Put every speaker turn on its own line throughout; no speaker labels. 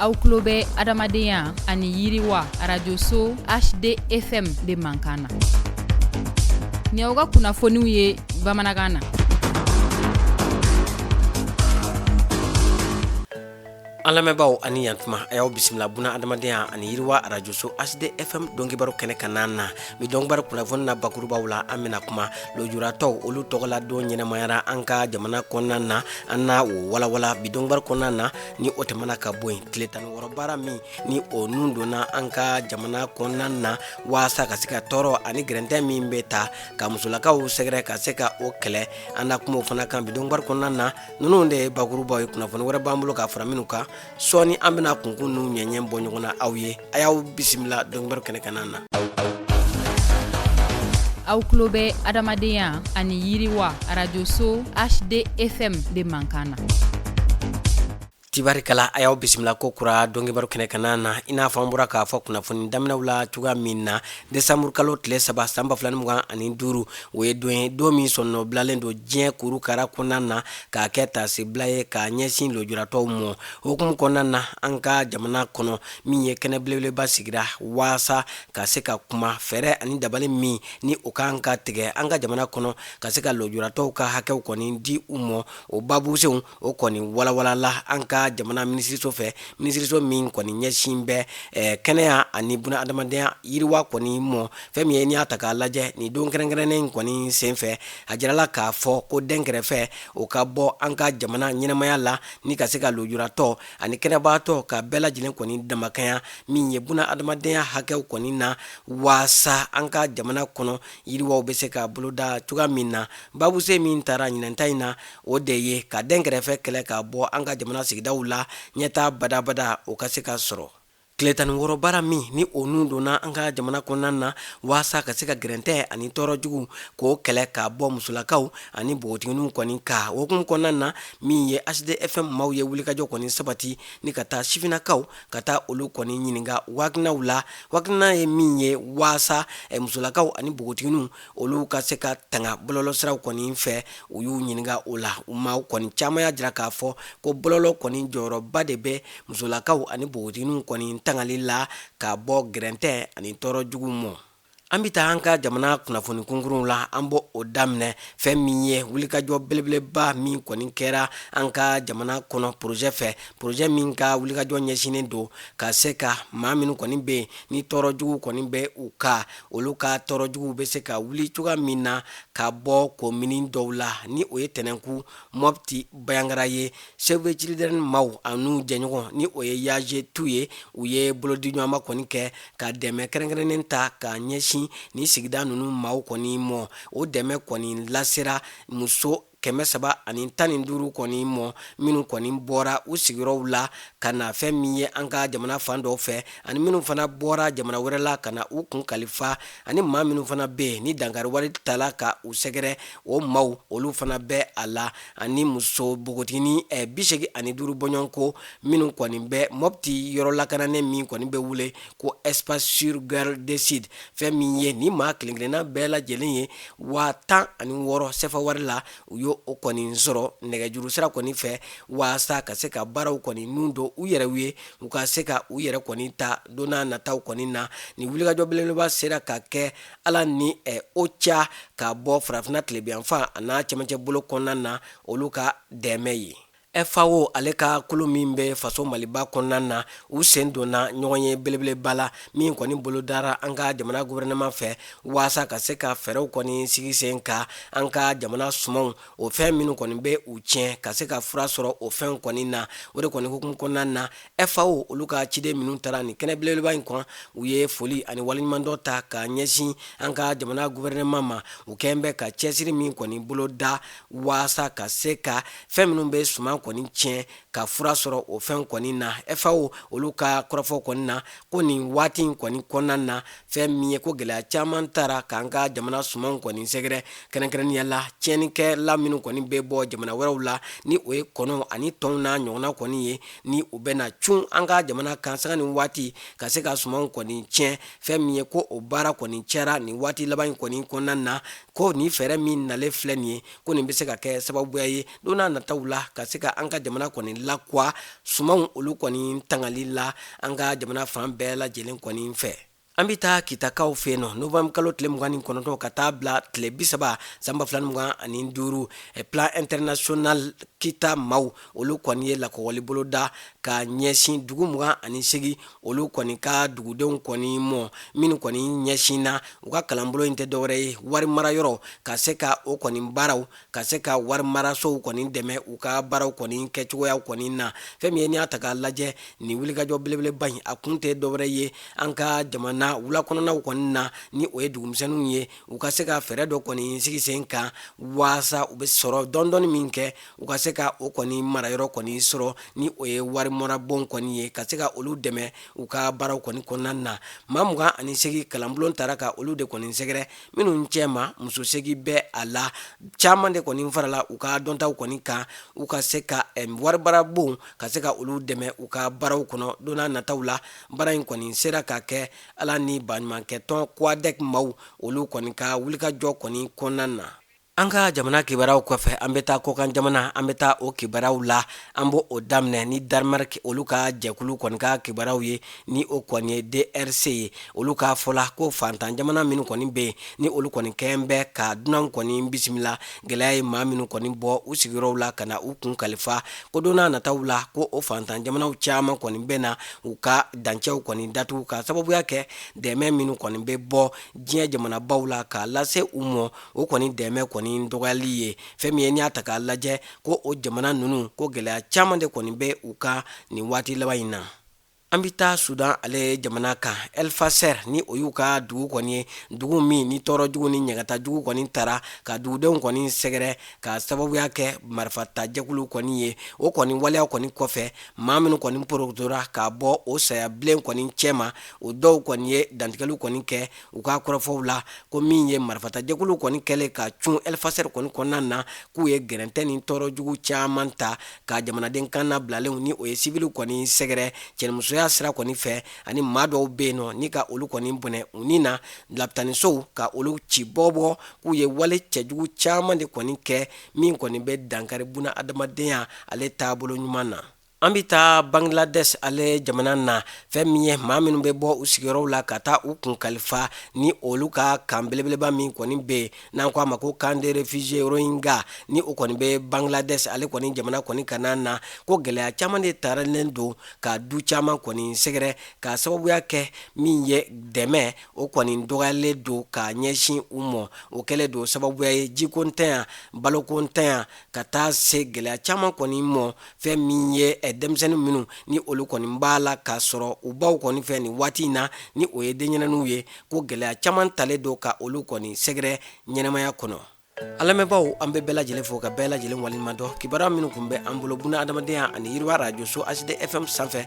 aw tulo bɛ adamadenya ani yiriwa arajoso hdfm de mankan na ni aw ka kunnafoniw ye bamanankan
na an lamɛnbaaw a ni yantuma a y'aw bisimila buna adamadenya ani yiriwa arajoso hdfm donkibaru kɛnɛ kanna na Bi donkibaru kunnafoni na bakurubaw la an bɛna kuma lojuratɔw olu tɔgɔla don ɲɛnamayara an ka jamana kɔnɔna na an na o walawala bi donkibaru kɔnɔna na ni o tɛmɛna ka bɔ yen tile tan ni wɔɔrɔ baara min ni o nun donna an ka jamana kɔnɔna na waasa ka se ka tɔɔrɔ ani gɛrɛntɛ min bɛ taa ka musolakaw sɛgɛrɛ ka se ka o kɛlɛ an na kuma o fana kan bi donkibaru kɔnɔna na ninnu de ye bakurubaw ye kunnafoni wɛrɛ b'an bolo ka fara minnu kan sɔɔni an bɛna kunkun nu ɲɛɲɛ bɔ ɲɔgɔn na aw ye a y'aw bisimila donkibaru kɛnɛ kanna
na aw tulo bɛ adamadenya ani yiriwa arajoso hdfm de mankan na
tibarikala a y'aw bisimila ko kura donkibaru kɛnɛ kanna na i n'a fɔ an bɔra k'a fɔ kunnafoni daminɛw la cogoya min na desanburukalo tile saba san ba fila ni mugan ani duuru o ye don ye don min sɔnɔ bilalen don diɲɛ kurukara kɔnɔna na k'a kɛ taasibila ye k'a ɲɛsin lojuratɔw mɔ hukumu kɔnɔna na an ka jamana kɔnɔ min ye kɛnɛ belebeleba sigira waasa ka se ka kuma fɛɛrɛ ani dabali min ni o kan ka tigɛ an ka jamana kɔnɔ ka se ka lojuratɔw ka hakɛw kɔni di u mɔ o babusenw o kɔni walawalala an ka jamana minisiriso fɛ minisiriso min kɔni ɲɛsin bɛ eh, kɛnɛya ani buna adamadenya yiriwa kɔni mɔ fɛn min ye n'i y'a ta k'a lajɛ nin don kɛrɛnkɛrɛnnen kɔni senfɛ a jirala k'a fɔ ko dɛnkɛrɛfɛ o ka bɔ an ka jamana ɲɛnamaya la ni ka se ka lojuratɔ ani kɛnɛbaatɔ ka bɛɛ lajɛlen kɔni damakanya min ye buna adamadenya hakɛw kɔni na waasa an ka jamana kɔnɔ yiriwaw bɛ se ka boloda cogoya min na babuse min taara ɲinanta in na o de ye ka dɛnkɛrɛfɛ kɛlɛ ka bɔ an ka jamana sigidaw la ɲɛtaa badabada o ka se ka sɔrɔ tile tan ni wɔɔrɔ baara min ni o nun donna an ka jamana kɔnɔna na waasa ka se ka gɛrɛntɛ ani tɔɔrɔ jugu k'o kɛlɛ ka bɔ musolakaw ani npogotigininw kɔni kan o hukumu kɔnɔna na min ye hdfm maaw ye wulikajɔ kɔni sabati ni ka taa sifinnakaw ka taa olu kɔni ɲininka u hakilinaw la u hakilina ye min ye waasa musolakaw ani npogotigininw olu ka se ka tanga bɔlɔlɔsiraw kɔni fɛ u y'u ɲininka o la u maaw kɔni caman y'a jira k'a fɔ ko bɔlɔlɔ kɔni jɔyɔrɔba de bɛ musolakaw ani npogotigininw kɔni tangali la ka bɔ gɛrɛntɛ ani tɔɔrɔ jugu mɔ an bɛ taa an ka jamana kunnafoni kunkurunw la an bɛ o daminɛ fɛn min ye wulikajɔ belebeleba min kɔni kɛra an ka jamana kɔnɔ porozɛ fɛ porozɛ min ka wulikajɔ ɲɛsinnen don ka se ka maa minnu kɔni bɛ yen ni tɔɔrɔ jugu kɔni bɛ u ka olu ka tɔɔrɔ jugu bɛ se ka wuli cogoya min na ka bɔ komini dɔw la ni o ye tɛnɛnku mɔpti bayangara ye Save the Children maw an'u jɛɲɔgɔn ni o ye YA-G-TU ye u ye bolodiɲɔgɔnma kɔni kɛ ka dɛmɛ kɛrɛnkɛrɛnnen ta ka ɲɛsin nin sigida ninnu maw kɔni mɔ o dɛmɛ kɔni lasera muso kɛmɛ saba ani tan ni duuru kɔni mɔ minnu kɔni bɔra u sigiyɔrɔw la ka na fɛn min ye an ka jamana fan dɔw fɛ ani minnu fana bɔra jamana wɛrɛ la ka na u kun kalifa ani maa minnu fana bɛ yen ni dankari wale taara ka u sɛgɛrɛ o maw olu fana bɛ a la ani muso npogotiginin eh, bisegin ani duuru bɔɲɔgɔnko minnu kɔni bɛ mɔpti yɔrɔ lakananen min kɔni bɛ wele ko espace sûr Girls Decide fɛn min ye ni maa kelen kelenna bɛɛ lajɛlen ye waa tan ani wɔɔrɔ sefa wari la u y' o kɔni sɔrɔ nɛgɛjuru sira kɔni fɛ waasa ka se ka baaraw kɔni ninnu don u yɛrɛ ye u ka se ka u yɛrɛ kɔni ta don n'a nataw kɔni na nin wulikajɔ belebeleba sera ka kɛ ala ni OCHA ka bɔ farafinna tilebinyanfan an'a cɛmancɛ bolo kɔnɔna na olu ka dɛmɛ ye FAO ale ka kulu min bɛ faso Maliba kɔnɔna na, u sen donna ɲɔgɔnye belebeleba la, min kɔni bolodara an ka jamana gouvernement fɛ waasa ka se ka fɛɛrɛw kɔni sigi sen kan an ka jamana sumanw, o fɛn minnu kɔni bɛ u tiɲɛ, ka se ka fura sɔrɔ o fɛnw kɔni na. O de kɔni hukumu kɔnɔna na, FAO olu ka ciden minnu taara nin kɛnɛ belebeleba in kan, u ye foli ani waleɲumandɔn ta ka ɲɛsin an ka jamana gouvernement ma, u kɛlen bɛ ka cɛsiri min kɔni boloda waasa ka se ka fɛn minnu bɛ suman kɔni tiɲɛ ka fura sɔrɔ o fɛn kɔni na FAO olu ka kɔrɔfɔ kɔni na ko nin waati in kɔni kɔnɔna na fɛn min ye ko gɛlɛya caman taara k'an ka jamana sumanw kɔni sɛgɛrɛ kɛrɛnkɛrɛnnenya la tiɲɛnikɛla minnu kɔni bɛ bɔ jamana wɛrɛw la ni o ye kɔnɔw ani tɔnw n'a ɲɔgɔnna kɔni ye ni u bɛna cun an ka jamana kan sanga ni waati ka se ka sumanw kɔni tiɲɛ fɛn min ye ko o baara kɔni cayara nin waati laban in kɔni kɔnɔna na ko nin fɛɛrɛ min nalen filɛ nin ye ko nin bɛ se ka kɛ sababuya ye don n'a nataw la ka se ka an ka jamana kɔni lawa sumanw olu kɔni tangali la an ka jamana fan bɛɛ lajɛlen kɔni fɛ an bɛ taa kitakaw fɛ yen nɔ novembre kalo tile mugan ni kɔnɔntɔn ka taa bila tile bisaba san ba fila ni mugan ani duuru eh, Plan International kita maaw olu kɔni ye lakɔgɔli boloda ka ɲɛsin dugu mugan ani segin olu kɔni ka dugudenw kɔni mɔ minnu kɔni ɲɛsinna u ka kalanbolo in tɛ dɔwɛrɛ ye wari mara yɔrɔ ka se ka o kɔni baara ka se ka wari marasow kɔni dɛmɛ u ka baaraw kɔni kɛcogoyaw kɔni na fɛn min ye n'i y'a ta k'a lajɛ nin wulikajɔ belebeleba in a kun tɛ dɔwɛrɛ ye an ka jamana wula kɔnɔnaw kɔni na ni o ye dugumisɛnninw ye u ka se ka fɛɛrɛ dɔ kɔni sigi sen kan waasa u bɛ sɔrɔ dɔɔni dɔɔni min kɛ u ka se ka o kɔni marayɔrɔ kɔni sɔrɔ ni o ye warimarabon kɔni ye ka se ka olu dɛmɛ u ka baaraw kɔni kɔnɔna na maa mugan ani segin kalanbolo taara ka olu de kɔni sɛgɛrɛ minnu cɛma muso segin bɛ a la caman de kɔni farala u ka dɔntaw kɔni kan u ka se ka warimarabon ka se ka olu dɛmɛ u ka baaraw kɔnɔ don n'a nataw la baara in kɔni sera ka kɛ ala ni baɲumankɛtɔn kɔd maaw olu kɔni ka wulikajɔ kɔni kɔnɔna na An ka jamana kibaruyaw kɔfɛ an bɛ taa kɔkan jamana an bɛ taa o kibaruyaw la an b'o daminɛ ni danemark olu ka jɛkulu kɔni ka kibaruyaw ye ni o kɔni ye drc ye olu ka fɔ la ko fantan jamana minnu kɔni bɛ yen ni olu kɔni kɛ bɛ ka dunanw kɔni bisimila gɛlɛya ye maa minnu kɔni bɔ u sigiyɔrɔw la ka na u kun kalifa ko don n'a nataw la ko o fantan jamanaw caman kɔni bɛ na u ka dancɛw kɔni datugu ka sababuya kɛ dɛmɛ minnu kɔni bɛ bɔ diɲɛ jamanabaw la k'a lase u mɔ o kɔni dɛmɛ kɔni dɔgɔyali ye fɛn min ye n'i y'a ta k'a lajɛ ko o jamana ninnu ko gɛlɛya caman de kɔni bɛ u kan nin waati laban in na an bɛ taa sudan ale jamana kan el fasher ni o y'u ka dugu kɔni ye dugu min ni tɔɔrɔ jugu ni ɲagata jugu kɔni taara ka dugudenw kɔni sɛgɛrɛ ka sababuya kɛ marifatajɛkulu kɔni ye o kɔni waleya kɔni kɔfɛ maa minnu kɔni porotora ka bɔ o saya bilen kɔni cɛma o dɔw kɔni ye dantigɛliw kɔni kɛ u ka kɔrɔfɔw la ko min ye marifatajɛkulu kɔni kɛlen ka cun el fasher kɔni kɔnɔna na k'u ye gɛrɛntɛ ni tɔɔrɔ jugu caman ta ka jamanaden kannabilalenw ni o ye sivili kɔni sɛgɛrɛ cɛnimusoya sira kɔni fɛ ani maa dɔw bɛ yen nɔ ni ka olu kɔni bɔnɛ u ni na lapitanisow ka olu ci bɔgɔbɔgɔ k'u ye wale cɛjugu caman de kɔni kɛ min kɔni bɛ dankari buna adamadenya ale taabolo ɲuman na an bɛ taa bangladesh ale jamana na fɛn min ye maa minnu bɛ bɔ u sigiyɔrɔw la ka taa u kun kalifa ni olu ka camp belebeleba min kɔni bɛ yen n'an ko a ma ko camp de réfugiés rohingya ni o kɔni bɛ bangladesh ale kɔni jamana kɔni ka na ko gɛlɛya caman de taralen don ka du caman kɔni sɛgɛrɛ ka sababuya kɛ min ye dɛmɛ o kɔni dɔgɔyalen don ka ɲɛsin u mɔ o kɛlen don sababuya ye jikontanya balokontanya ka taa se gɛlɛya caman kɔni mɔ fɛn min ye eh, denmisɛnnin minnu ni olu kɔni b'a la k'a sɔrɔ u baw kɔni fɛ nin waati in na ni o ye denɲɛrɛninw ye ko gɛlɛya caman talen don ka olu kɔni sɛgɛrɛ ɲɛnamaya kɔnɔ an lamɛnbaaw an bɛ bɛɛ lajɛlen fo ka bɛɛ lajɛlen waleɲuman dɔn kibaruya minnu kun bɛ an bolo buna adamadenya ani yiriwa rajoso hd fm sanfɛ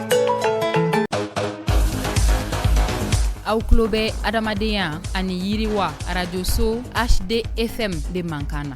Aw tulo bɛ adamadenya ani yiriwa arajoso hd fm de mankan na